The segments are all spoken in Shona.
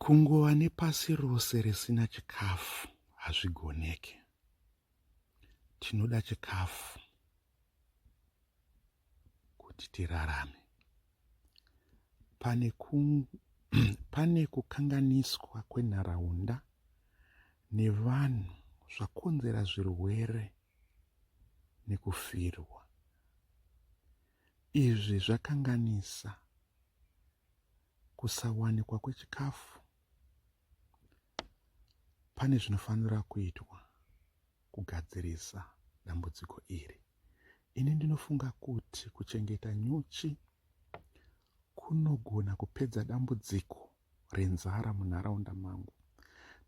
kungova nepasi rose risina chikafu hazvigoneke tinoda chikafu kuti tirarame pane, ku, pane kukanganiswa kwenharaunda nevanhu zvakonzera zvirwere nekufirwa Izvi zvakanganisa kusawanikwa kwechikafu. Pane zvinofanira kuitwa kugadzirisa dambudziko iri. Ini ndinofunga kuti kuchengeta nyuchi kunogona kupedza dambudziko renzara munharaunda mangu.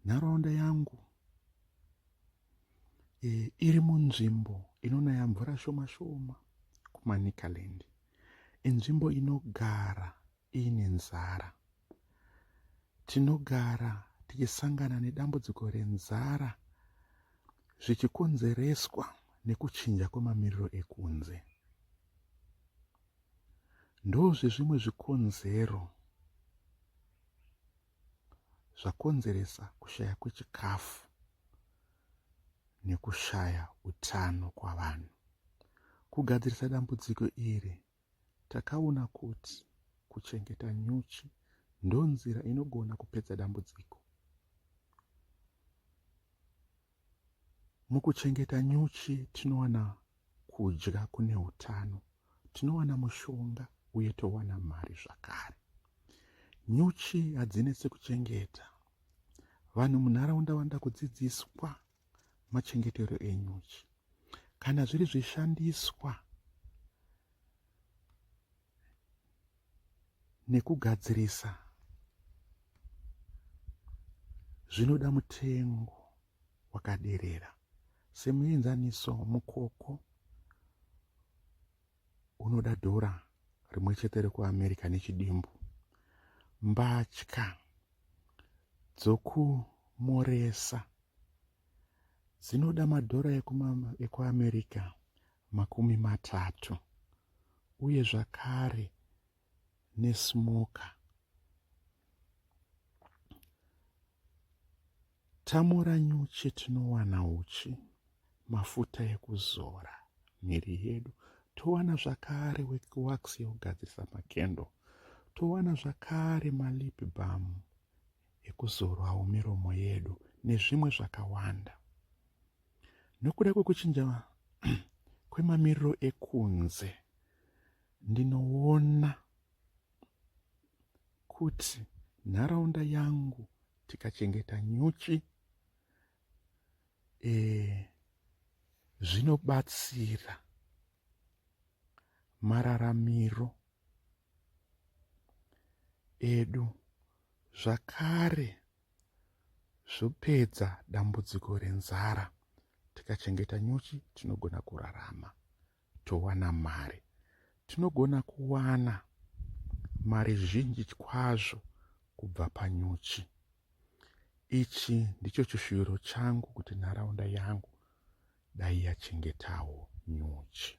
Nharaunda yangu e, iri munzvimbo inonaya mvura shoma shoma kumanicaland inzvimbo inogara iine nzara tinogara tichisangana nedambudziko renzara zvichikonzereswa nekuchinja kwemamiriro ekunze ndozvezvimwe zvikonzero zvakonzeresa kushaya kwechikafu nekushaya utano kwavanhu kugadzirisa dambudziko iri takaona kuti kuchengeta nyuchi ndonzira inogona kupedza dambudziko mukuchengeta nyuchi tinowana kudya kune utano tinowana mushonga uye towana mari zvakare nyuchi hadzinetse kuchengeta vanhu munharaunda vanoda kudzidziswa machengetero enyuchi kana zviri zvishandiswa nekugadzirisa zvinoda mutengo wakaderera semuenzaniso mukoko unoda dhora rimwe chete rekuamerica nechidimbu mbatya dzokumoresa dzinoda madhora ekuamerica makumi matatu uye zvakare nesmoker tamora nyuchi tinowana uchi mafuta ekuzora miri yedu towana zvakare wax yekugadzirisa makendo towana zvakare malip bam ekuzorwawo miromo yedu nezvimwe zvakawanda nokuda kwekuchinja kwemamiriro ekunze ndinoona kuti nharaunda yangu tikachengeta nyuchi e, zvinobatsira mararamiro edu zvakare zvopedza dambudziko renzara tikachengeta nyuchi tinogona kurarama towana mari tinogona kuwana mari zhinji kwazvo kubva panyuchi ichi ndicho chishuviro changu kuti nharaunda yangu dai yachengetawo nyuchi